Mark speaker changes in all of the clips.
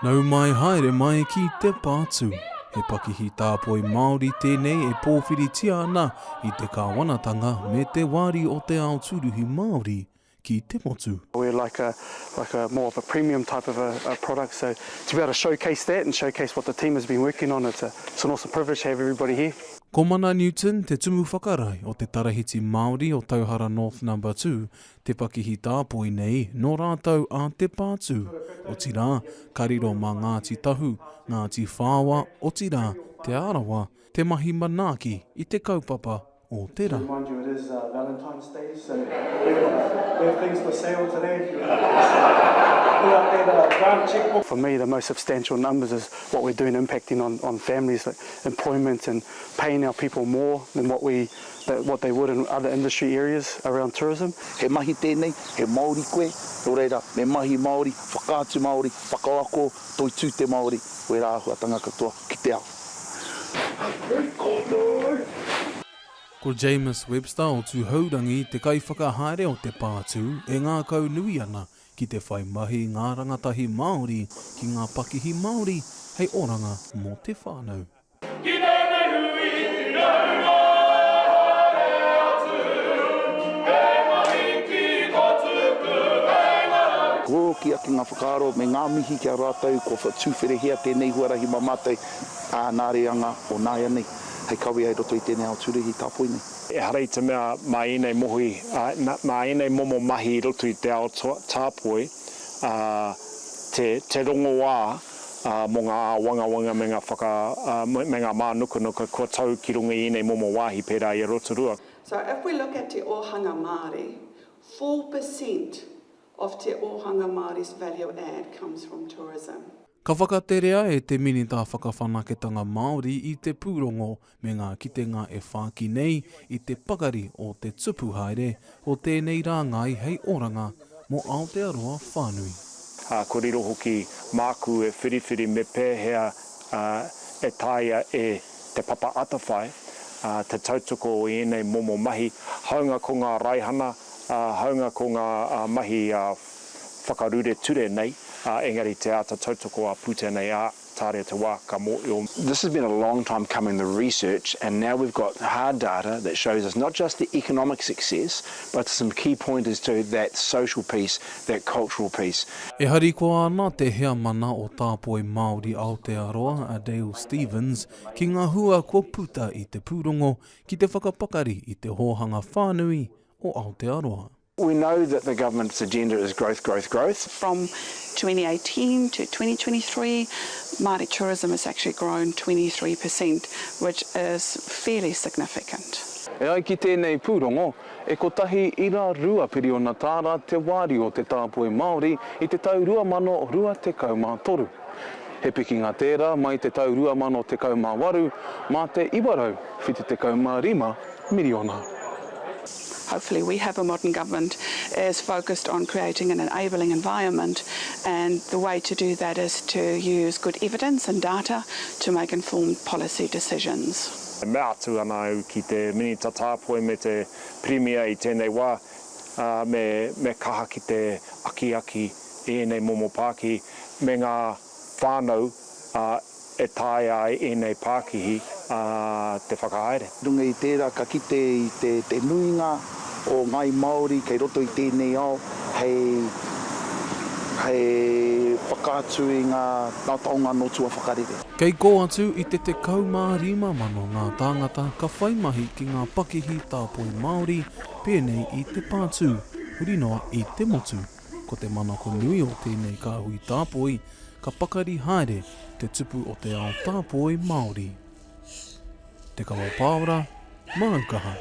Speaker 1: Nau mai haere mai ki te pātū. He pakihi tāpoi Māori tēnei e pōwhiritia ana i te kāwanatanga me te wāri o te ao tūruhi Māori ki te motu. We're like a
Speaker 2: like a more of a premium type of a product so to be able to showcase that and showcase what the team has been working on it's a it's an awesome privilege to have everybody here. Ko Mana Newton
Speaker 1: te tumu whakarae o te Tarahiti Māori o Tauhara North Number Two te pakihi tāpoi nei nō rātou a Te Pātū, otirā, ka riro mā Ngāti Tahu, Ngāti Whaoa, otirā, Te Arawa, te mahi manaaki i te kaupapa o te rā.
Speaker 2: For me the most substantial numbers is what we're doing impacting on on families like employment and paying our people more than what we That what they would in other industry areas around tourism. He mahi tēnei,
Speaker 3: he Māori koe, nō reira, me mahi Māori, whakaatu Māori, whakaako, toitū te Māori, wērā āhuatanga katoa ki te ao. Hei konei!
Speaker 1: Ko James Webster o Tūhourangi te kaiwhakahaere o te pātū e ngākau nui ana ki te whai mahi i ngā rangatahi Māori ki ngā pakihi Māori hei oranga mō te whānau. Ki tēnei hui tiraurā haere atu
Speaker 3: He mahi ki tō tuku hei ngarau. Kua oti ake ngā whakaaro me ngā mihi ki a rātou kua whatūwherehia tēnei huarahi mā mātou, ā, nā reanga o nāianei hei kawea i roto i tēnei ao tūruhi tāpoi nei. Ehara i te mea
Speaker 4: mā ēnei mohi, mā ēnei momo mahi i roto i te ao tāpoi, ā, te rongoā. mō ngā āwangawanga me ngā whaka, me ngā mānukanuka kua tau ki runga i ēnei momo wāhi pērā i a Rotorua. So if we look
Speaker 5: at te ōhanga Māori, four per cent of te ōhanga Māori's value add comes from tourism. Ka whakaterea
Speaker 1: e te Minita Whakawhanaketanga Māori i te pūrongo me ngā kitenga e whāki nei i te pakari o te tupu haere o tēnei rāngai hei oranga mō Aotearoa whānui. Ā, kōrero
Speaker 4: hoki māku e whiriwhiri me pēhea e taea e Te Papa Atawhai te tautoko i ēnei momo mahi, hāunga ko ngā raihana, hāunga ko ngā mahi whakarure ture nei, engari te āta tautoko a Pūtea nei, ā. Tarea te wa ka moio. This has been a long
Speaker 6: time coming the research and now we've got hard data that shows us not just the economic success but some key pointers to that social piece, that cultural piece. E harikoa
Speaker 1: ana te Heamana o Tāpoi Māori Aotearoa a Dale Stephens ki ngā hua kua puta i te pūrongo ki te whakapakari i te hōhanga whānui o Aotearoa. We know that
Speaker 6: the government's agenda is growth, growth, growth. From 2018
Speaker 5: to 2023, Māori tourism has actually grown 23 per cent, which is fairly significant. E ai ki
Speaker 7: tēnei pūrongo, e kotahi ira rua piriona tāra te wāriu o te tāpoi Māori i te tau 2023. He pikinga tērā mai te tau 2018 mā te 975 miriona.
Speaker 5: Hopefully we have a modern government is focused on creating an enabling environment and the way to do that is to use good evidence and data to make informed policy decisions. E mea atu ana
Speaker 4: au ki te Minita Tāpoi me te Pirimia i tēnei wā, me kaha ki te akiaki i ēnei momo pāki me ngā whānau e taea ai ēnei pākihi te whakahaere. Runga i tērā ka
Speaker 3: kite i te nuinga o ngāi Māori kei roto i tēnei ao hei whakaatu i ngā taonga nō tua whakarere. Kei kō atu
Speaker 1: i te 15 mano ngā tāngata ka whai mahi ki ngā pakihi tāpoi Māori pēnei i te pātū, huri noa i te motu. Ko te manako nui o tēnei kāhui tāpoi, ka pakari haere te tupu o te ao tāpoi Māori. Te Kawa Pāora, Māu Kaha.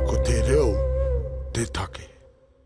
Speaker 8: Ko te reo te take.